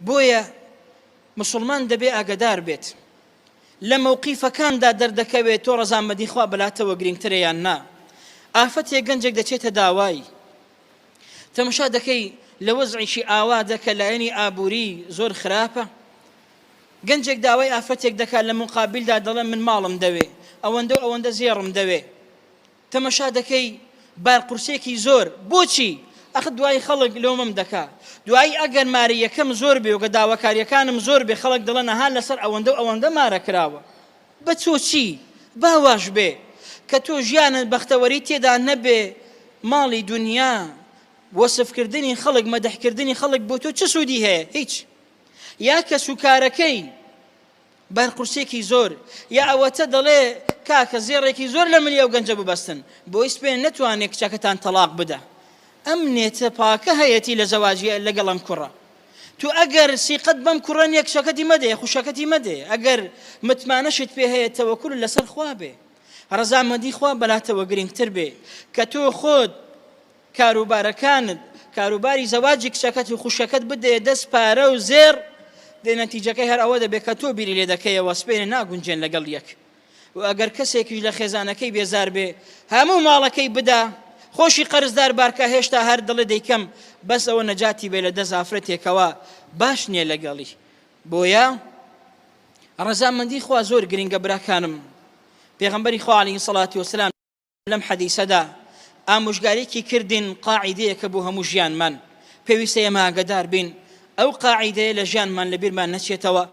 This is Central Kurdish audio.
بۆیە مسلمان دەبێ ئاگدار بێت لە مەوقیفەکاندا دەردەکەوێت تۆ ڕزامەدی خوا بەلاتەوە گرنگترە یان نا ئافەتێک گەنجێک دەچێتە داوای تەمشا دەکەی لە وەزعیشی ئاوا دەکە لایەنی ئابووری زۆر خراپە گەنجێک داوای ئافرەتێک دەکات لە مقابلدا دەڵێن من ماڵم دەوێ ئەوەندە ئەوەندە زێڕم دەوێ تەمەشا دەکەی بار قورسێکی زۆر بۆچی ئەخ دوای خەڵک لۆمم دەکا دوای ئەگەر مارە یەکەم زۆر بێ و گە داواکاریەکانم زۆر بێ خەڵک دڵە نەها لەسەر ئەوەندە و ئەوەندە مارە کراوە بە تۆ چی باواش بێ کە تۆ ژیانت بەختەوەری تێدا نەبێ ماڵی دنیا وەسفکردنی خەڵک مەدەحکردنی خەڵک بۆ تۆ چ سوودی هەیە هیچ یا کەسوکارەکەی بەر قورسێکی زۆر یا ئەوەتە دەڵێ کاکە زێڕێکی زۆر لە ملی ئەو گەنجە ببەستن بۆی سپێن نەتوانێت کچەکەتان تەلاق بدە ئەم نێتە پاکە هەیەتی لە زەواجی لەگەڵ ئەم کوڕە تو ئەگەر سیقەت بەم کوڕە نیە کچەکەتی مەدەیە خوشەکەتی مەدێ ئەگەر متمانەشت پێ هەیە تەوەکول لەسەر خوا بێ ڕەزامەندی خوا بەلاتەوە گرنگتر بێ کە تۆ خۆت کاروبارەکانت کاروباری زەواجی کچەکەت و خوشەکەت بدەیە دەست پارە و زێر دێ نەتیجەکەی هەر ئەوە دەبێت کە تۆ بیری لێ دەکەیەوە سپێنە ناگونجێن لەگەڵ یەک و ئەگەر کەسێکیش لە خێزانەکەی بێزار بێ هەموو ماڵەکەی بدا خۆشی قەرزدار بارکە هێشتا هەر دڵێ دەیکەم بەس ئەوە نەجاتی بێ لە دە زافرەتێکەوە باش نییە لەگەڵی بۆیە ڕەزامەندی خوا زۆر گرنگە براکانم پێغمبەری خوالی سەڵاتی وسلام لەم حەدیسەدا ئامۆژگاریکی کردین قاعیدەیەکە بۆ هەموو ژیانمان پێویستە ئێمە ئاگەدار بین ئەو قاعیدەیە لە ژیانمان لەبیرمان نەچێتەوە